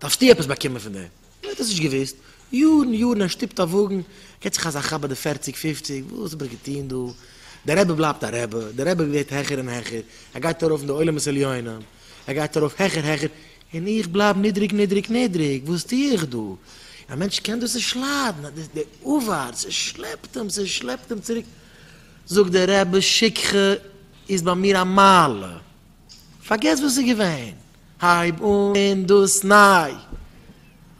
דארפסטו עפעס באקומען פון דעם. ער האט עס נישט געוואוסט. יארן יארן ער שטופט א וואגן, געט זיך אזא כאפ ביי די פערציג פופציג, וואס האב איך געטון דא? דער רבי בלייבט א רבי, דער רבי ווערט העכער און העכער, ער גייט ארויף אין די עולמות עליונים, ער גייט ארויף העכער העכער, און איך בלייב נידריג נידריג נידריג, וואס טו איך דא? און א מענטש קען דאס נישט ליידן, אז די עבר, ס'שלעפט אים, ס'שלעפט אים צוריק. זאגט דער רבי, שכחה איז ביי מיר א מעלה, פארגעס וואס איז געווען. הייב אן דאס ניי.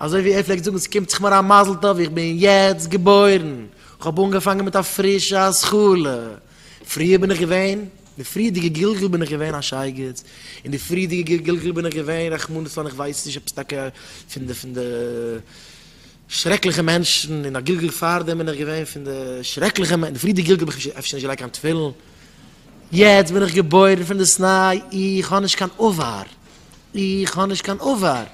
אזוי ווי ער פלעגט זאגן ס'קומט זיך מיר א מזל טוב איך בין יעצט געבוירן, איך האב אנגעפאנגען מיט א פרישע השכלה, פריער בין איך געווען, די פריערדיגע גלגול בין איך געווען א שייגעץ, אין די פריערדיגע גלגול בין איך געווען רחמנא לצלן איך ווייס נישט עפעס טאקע פון די פון די שרעקליכע מענטשן, אין א גלגול פארדעם בין איך געווען פון די שרעקליכע מענטשן, די פריערדיגע גלגול בין איך אפשר נישט געלייגט קיין תפילין, יעצט בין איך געבוירן פונדעסניי, איך האב נישט קיין אבר, איך האב נישט קיין אבר.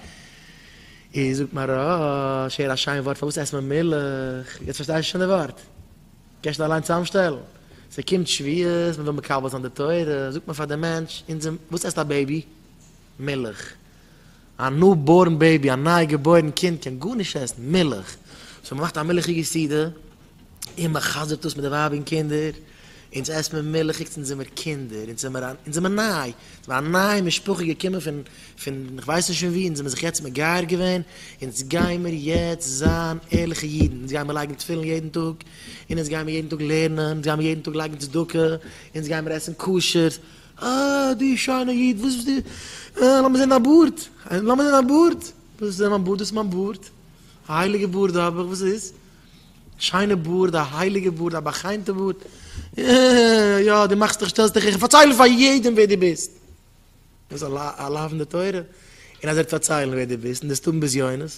איר זאגט מהרש, הער א שיין ווארט, פארוואס עסט מען מילך? יעצט פארשטיי איך שוין די ווארט. קען שוין אליין צוזאמשטעלן. ס'קומט שביעות, מ'וויל מקבל זיין די תורה, זאגט מען פאר די מענטש, אונזער, וואס עסט א בעיבי? מילך. א ניו בארן בעיבי, א ניי געבוירן קינד קען גארנישט עסן, מילך, סאו מ'מאכט א מילכיגע סעודה, און מ'חזר'ט אויס מיט די ווייב און קינדער, אונז עסט מען מילכיגס, אונז זעמער קינדער, אונז זעמער א, אונז זעמער ניי, זעמער א נייע משפחה געקומען פון, פון כ'ווייס נישט פון ווי, אונז זעמער זיך יעצט מגייר געווען, אונז גיימער יעצט זיין ערליכע אידן, אונז גיימער לייגן תפילין יעדן טאג, און אונז גיימער יעדן טאג לערנען, אונז גיימער יעדן טאג לייגן צדקה, אונז גיימער עסן כשר, אה, דו שיינע איד, וואס ביסטו, אה, לאמיר זען דיין בארד, לאמיר זען דיין בארד, וואס זען מיין בארד, דאס איז מיין בארד, א הייליגע בארד האב איך, וואס איז? שיינע בארד, א הייליגע בארד, א בא'חיימ'טע בארד, אה, יא, דו מאכסט דיך, שטעלסט דיך העכער, פארצייל פאר יעדעם ווער דו ביסט, דאס איז א לאו אין די תורה, און אז ער וועט פארציילן ווער דו ביסט, און דו וועסט האבן בזיונות,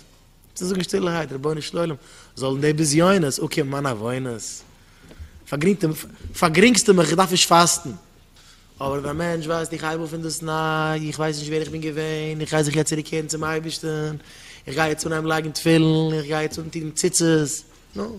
צו זאגן שטילערהייט, רבונו של עולם, זאלן די בזיונות אקומען מיינע עוונות? פארגרינגסטו מיך, איך דארף נישט פאסטן. אבער ווען א מענטש ווייסט איך הייב אויף פונדאסניי, איך ווייס נישט ווער איך בין געווען, איך גיי זיך יעצט צוריקקערן צום אייבערשטן, איך גיי יעצט אנהייבן לייגן תפילין, איך גיי יעצט אנטון ציצית, נו.